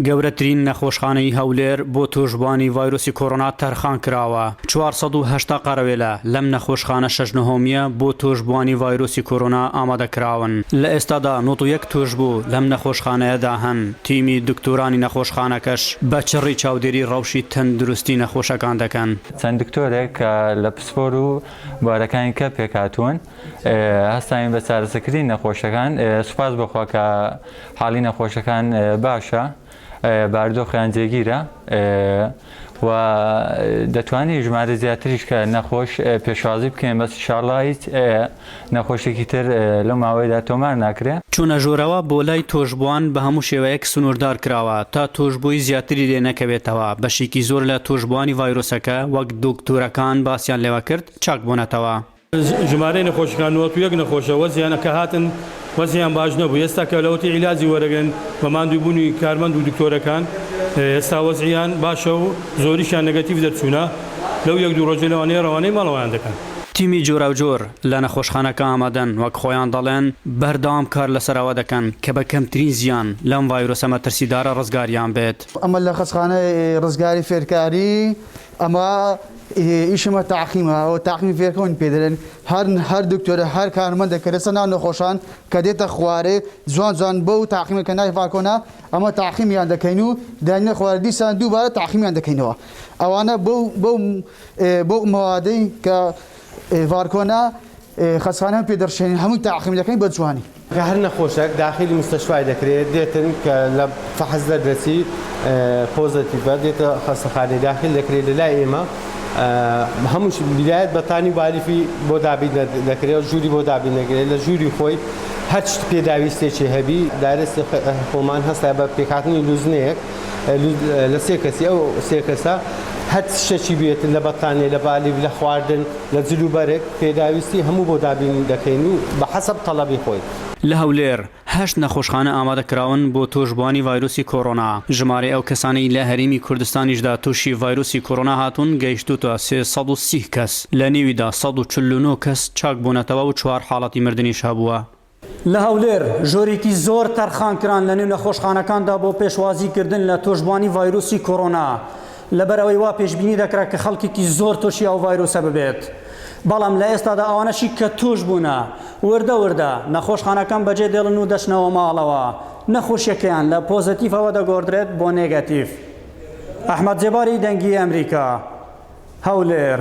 گەورەترین نەخۆشخانەی هەولێر بۆ تووشبووانی ڤایرۆسی کۆرۆنا تەرخان کراوە، چوار سەد و هەشتا قەرەوێلە لەم نەخۆشخانە شەش نهۆمییە بۆ تووشبووانی ڤایرۆسی کۆرۆنا ئامادە کراون، لە ئێستادا نۆد و یەک تووشبوو لەم نەخۆشخانەیەدا هەن، تیمی دکتۆرانی نەخۆشخانەکەش بە چڕی چاودێری ڕەوشی تەندروستی نەخۆشەکان دەکەن. چەند دکتۆرێک کە لە پسپۆر و بوارەکانی کە پێکهاتوون، هەستاین بە چارەسەکردنی نەخۆشەکان سوپاس بەخوا کە حاڵی نەخۆشەکان باشە باردۆخیان جێگیرە و دەتوانین ژمارە زیاتریش کە نەخۆش پێشوازی بکەین بەس شاڵڵا هیچ نەخۆشێکی تر لەو ماوەیەدا تۆمار ناکرێ. چونە ژورەوە بۆ لای تۆشبوان بە هەموو شێوەیەک سنوردار کراوە تا تۆشبوی زیاتری لێ نەکەوێتەوە، بەشێکی زۆر لە تۆشبوانی ڤایرۆسەکە وەک دوکتورەکان باسیان لێوە کرد چاک بونەتەوە. ژمارەی نەخۆشەکان نۆت و یەک نەخۆشە وەزیان کە هاتن وەزیان باش نەبوو ئێستا کە لە ئۆتی عیلاجی وەرەگرن بە ماندوو بوونی کارمەند و دکتۆرەکان ئێستا وەزعیان باشە و زۆریشیان نەگەتیڤ دەرچوونە لەو یەک دوو ڕۆژە لەوانەیە ڕەوانەی ماڵەوەیان دەکەن. تیمی جۆراوجۆر لە نەخۆشخانەکە ئامادەن وەک خۆیان دەڵێن بەردەوام کار لەسەر ئەوە دەکەن کە بە کەمترین زیان لەم ڤایرۆسە مەترسیدارە ڕزگاریان بێت. ئەمە لە خەستخانەی ڕزگاری فێرکاری ئەمە ئیشمە تاقیمە ئەوە تاقمی فێرکەون پێ دەێن هەر هەر دکتۆرە هەر کارمەندە کە لەسەر ناو نەخۆشان کە دێتە خوارێ جوان جوان بە و تاقیمە کە نای فاکۆنا ئەمە تاقیمیان دەکەین و داینە خوارد دیسان دووبارە تاقیمیان دەکەینەوە ئەوانە بۆ مەوادەی کە ڤارکۆنا خەسخانە پێ دەڕشێنین هەمووی تاقیم دەکەین بە جوانی کە هەر نەخۆشەک داخیلی مستەشفای دەکرێت دێتن کە لە فەحس دەردەچی پۆزەتیڤە دێتە خەستەخانەی داخیل دەکرێت لە لای ئێمە هەمووش بیرایەت بەتانی بالیفی بۆ دابین دەکرێت ژووری بۆ دابین دەکرێت لە ژووری خۆی هەر شت پێداویستێکی هەبی دارستی خۆمان هەستا بە پێکهاتنی لوزنەیەک لە سێ کەسی ئەو سێ کەسە هەر شتێکی بێت لە بەتانێ لە بالیف لە خواردن لە جلوبەرگ پێداویستی هەموو بۆ دابین دەکەین و بە حەسەب تەڵەبی خۆی. لە هەولێر، هەشت نەخۆشخانە ئامادەکراون بۆ تۆشبووانی ڤایرۆسی کۆرۆنا، ژمارەی ئەو کەسانەی لە هەرێمی کوردستانیشدا تووشی ڤایرۆسی کۆرۆنا هاتوون گەیشتووتە سێ سەد و سی کەس، لە نێویدا سەد و چل و نۆ کەس چاکبوونەتەوە و چوار حاڵەتی مردنیش هەبووە. لە هەولێر ژۆرێکی زۆر تەرخان کران لە نێو نەخۆشخانەکاندا بۆ پێشوازی کردن لە تۆشبوانی ڤایرۆسی کۆرۆنا لەبەر ئەوەی وا پێشبینی دەکرا کە خەڵکێکی زۆر تۆشی ئەو ڤایرۆسە ببێت بەڵام لە ئێستادا ئەوانەشی کە توش بوونە وردە وردە نەخۆشخانەکان بەجێ دێڵن و دەچنەوە ماڵەوە نەخۆشیەکەیان لە پۆزەتیفەوە دەگۆڕدرێت بۆ نێگەتیف ئەحمەد جێباری دەنگی ئەمریکا هەولێر